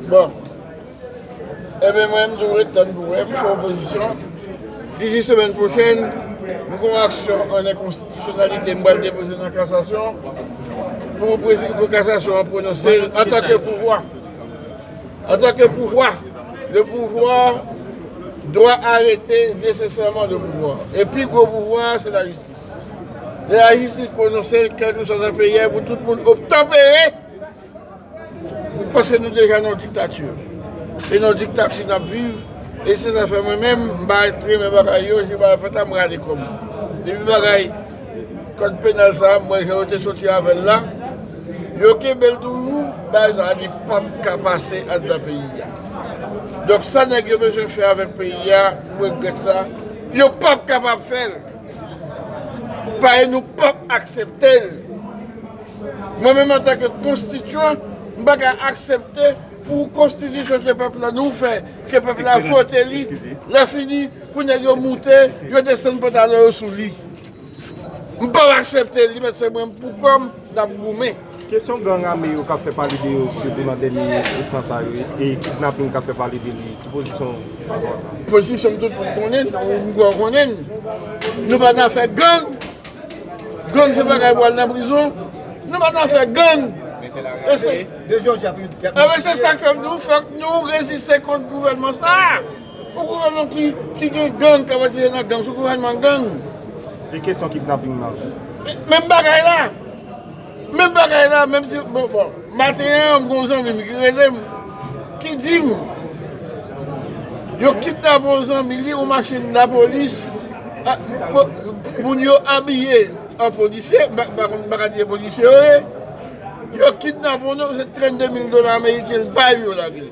Bon. Ebe mwen m toujou ret tann pou wè m sou opozisyon. Disi semèn pwochèn, m gon aksyon an enkonstitisyonalite m pral depoze nan kasasyon pou kasasyon an pwononse l antanke pouvwa. Antanke pouvwa. Le pouvwa dwa arete nesesèman le pouvwa. E pi gwo pouvwa a se lajistis. Lè lajistis pwononse l kèlkeswa nan peyi a pou tout moun obtanpere. Paske nou deja nan diktati. E nan diktati nap viv. E se sa fè mwen menm m pa renmen bagay yo, jan bagay yo fèt la m rale kò m. Depi bagay kòd penal sa m wè jan yo te soti avè l la, yo kenbe l toujou, bagay sa li pap ka pase anndan peyi a. Donk sa nèg yo bezwen fè avèk peyi a, m regrèt sa, yo pap kapab fè l. Paske nou pap aksepte l. Mwen menm antan ke konstityan, m pa ka aksepte pou konstitisyon ke pèp la nou fè, ke pèp la vote li, lè fini pou nèg yo moute, yo desann pantalon yo sou li. M pap aksepte li, mèt se mwen pou kò m n ap goumen. Kesyon gang ame yo k ap fè pale de yo sitou nan dènye tan sa yo e kidnaping k ap fè pale de li, ki pozisyon ou pa rapò a sa? Pozisyon m tout moun konnen, m kwè w konnen m. Nou pa nan afè gang. Gang se bagay pou al nan prizon nou pa nan afè gang enben se sak fè m di w fòk nou reziste kont gouvènman sa yon gouvènman ki gen gang kap atire nan gang se yon gouvènman gang menm bagay la. Menm bagay la, menm ti, bon, bon. Maten an, m gon zanmi m ki rele m, ki di m, yo kidnape yon zanmi li, yon machin lapolis, moun yo abiye an polisye, m pa konn, m pa ka di e polisye yo ye, yo kidnape yon nonm, se 32 mil dola ameriken l bay yo lage l.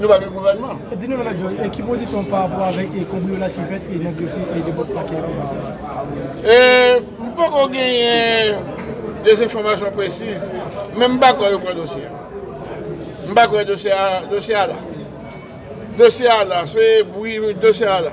Nou pa gen gouvènman. Di nou Mèt Jòj, ki pozisyon ou pa rapò avèk kanbriyolaj ki fèt nan dosye depòt pakè komisè? M poko genyen de enfòmasyon presiz, men m pa kwè yo pran dosye a. M pa kwè dosye a la. Dosye a la, se bri dosye a la.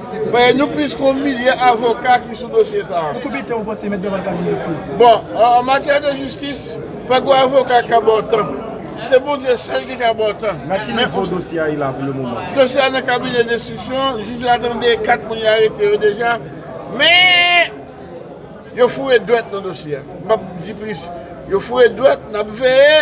Payen nou plis ke yon milye avoka ki sou dosye sa a. Pou konbyen tan ou panse Mèt Dorval ka jwenn jistis? Bon, an matyè de jistis, pa gen yon avoka ki ka ba w tan. Se Bondye sèl ki ka ba w tan. Nan ki nivo dosye a ye la pou le moman? Dosye a nan kabinè denstriksyon, jij la tande 4 moun yo arete yo deja, men yo foure dwèt nan dosye a. M pa p di plis. Yo foure dwèt, n ap veye.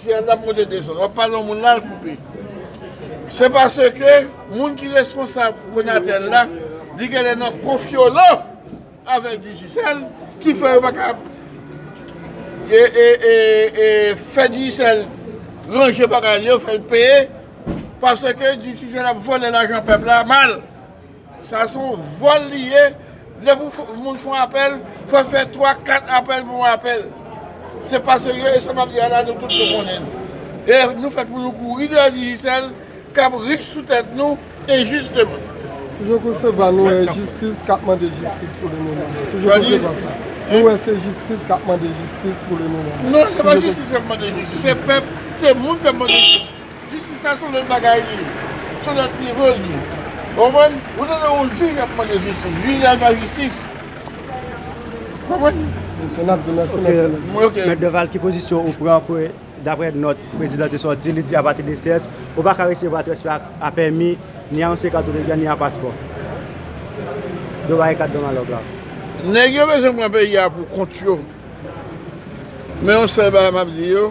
Fi a tap monte desann wap pale yon moun la al koupe se paske moun ki responsab konatel la li genlè nan konfyolo avèk digicel ki fè yo paka fè digicel ranje bagay li yo fèl peye paske digicel ap vòlè lajan pèp la mal. Sa son vòl li ye, lè pou moun fon apèl fòl fè 3 4 apèl pou yon apèl se pa serye e sa map di a la nou tout nou konnen l e nou fèt pou nou kouri dèyè Digicel kap rich sou tèt nou enjisteman. Toujou kou se va nou wè e jistis kap mande jistis pou le moman. Toujou kou se va sa nou wè se jistis kap mande jistis pou le moman. Non se pa jistis kap mande jistis se pèp se moun kap mande jistis. Jistis la son lòt bagay li ye. Son lòt nivo li ye. Ou konprann? Ou tande yon jij ap mande jistis. Jij la bay jistis. Ou konprann? Ok, n ap di mèsi mèt Deval. Ok. Mèt Deval, ki pozisyon ou pran pou dapre nòt prezidan te sòti, li di apati de 16, ou pa ka resevwa transfè a pèmi, ni a ansyen kat ou te gen, ni a paspò. Yo bay kat Don Alòg la. Nèg yo bezwen pran peyi a pou kont yo. Men yon sèl bagay m ap di yo.